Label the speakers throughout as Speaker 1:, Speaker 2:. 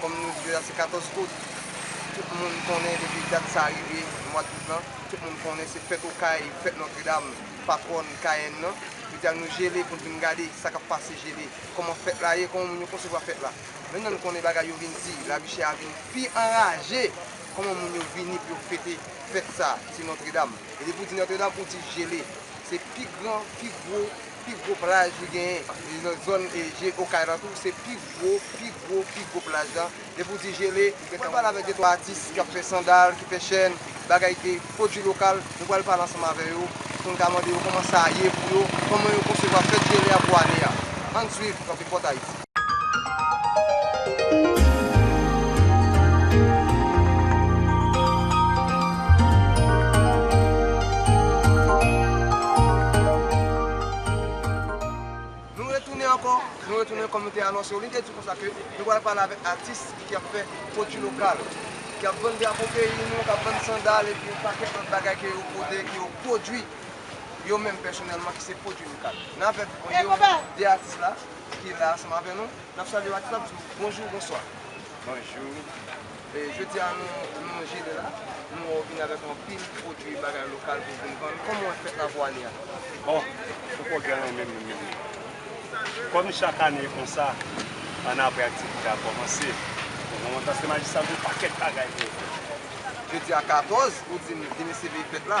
Speaker 1: Kòm nou di deja se 14 out, tout moun konnen depi dat sa rive, mwad out lan, tout moun konnen se fèt Okay, fèt Nòtredam, patwòn Kayenn nan. Nou di al nou jele pou n vin gade sa k ap pase jele, kòman fèt la ye, kòman moun yo konsevwa fèt la. Men nan nou konnen bagay yo vin di, lavi chè a vin pi anraje, kòman moun yo vini pou yo fete fèt sa, ti Nòtredam. E depi ou di Nòtredam, ou di jele. Se pi gran, pi gwo. Pi gwo plaj li genyen nan zòn je okay lan tou se pi gwo pi gwo pi gwo plaj la depi w di jele ou gentan wè. Mwen pale avèk de twa atis ki ap fè sandal ki fè chèn bagay de pwodui lokal nou pral pale ansanm avè yo pou n ka mande yo kòman sa ye pou yo kòman yo konsevwa fèt jele a pou ane a ann swiv Kanpe Pòtayis. Nou retounen ankò, nou retounen kòm nou te anonse yo, li te di konsa ke nou pral pale avèk atis ki ap fè pwodui lokal, ki ap vann drapo peyi nou, ki ap vann sandal epi yon pakèt lòt bagay ke yo pote, ke yo pwodui yo menm pèsonèlman ki se pwodui lokal. N avèk 2 atis la, ki la ansanm avè nou. N ap salye w ak tout, n ap di w bonjou, bonswa. Bonjou. Jodi a nou jere la, nou wè w vini avèk anpil pwodui bagay lokal pou w vin vann. Kòman w wè fèt Lavwani a? O!
Speaker 2: Fo Pwogrè renmen m renmen li. Kòm chak ane e konsa, ann apre aktivite a kòmanse, nou gen yon Dance de Magie sa gen yon pakèt bagay pou yo fè. Jodi
Speaker 1: a 14, ou di m vini siviv fèt la.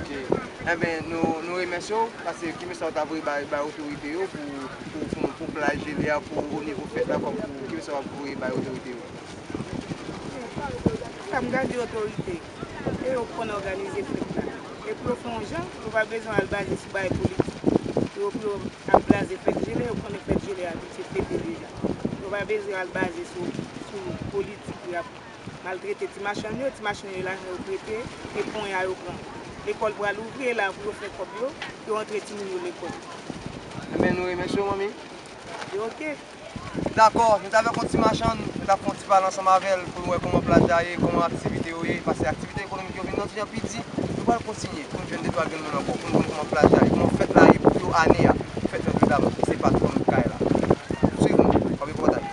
Speaker 3: Ok
Speaker 1: enben nou remèsye w pase ki mesaj ou ta voye bay otorite yo pou plaj jele a pou o nivo fèt la kòm pou ki mesaj wap voye bay otorite yo.
Speaker 3: Sa m ka di otorite e yo k konn òganize fèt la e pou yo fè yon jan yo pa bezwen al baze sou bagay politik pou yo pou yo ap blaze fèt jele yo konnen fèt jele a abitye fete deja yo pa bezwen al baze sou politik y ap Maltrete ti machann yo, ti machann yo lajan yo prete e ponya yo pran. Lekòl pral ouvri e la pou yo fè kòb yo, pou yo antre timoun yo lekòl. Enben
Speaker 1: nou remèsye w manmi. Yo ok.
Speaker 3: Dakò,
Speaker 1: nou ta vle konn ti machann, nou ta fè yon ti pale ansanm avè l pou nou wè kòman pla l ta ye, kòman aktivite yo ye, pase aktivite ekonomik yo vin nan ti jan pi di. Nou pral kontinye pou n jwenn de twa grenn moun ankò pou n konn kòman pla l ta ye, kòman fèt la ye pou yo ane a, fèt Notre Dame ki se patwòn kay la. Swiv nou, wap wè pòtaj.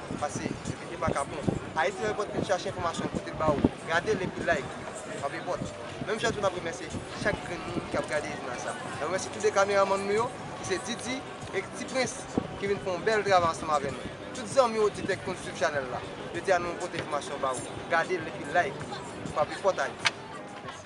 Speaker 1: Pase sou video Makapon. Haiti Report vin chache enfòmasyon pote l ba ou. Gade l epi like. Map report. Menm jan tou nap remèsye chak grenn moun ki ap gade jounal sa. Nap remèsye tou 2 kameramann nou yo ki se Didi et Ti Prince ki vin fè yon bèl travay ansanm avè nou. Tout zanmi oditè ki konn swiv chanèl la, yo di a nou pote enfòmasyon ba ou. Gade l epi like. Map report Haiti. Mèsi.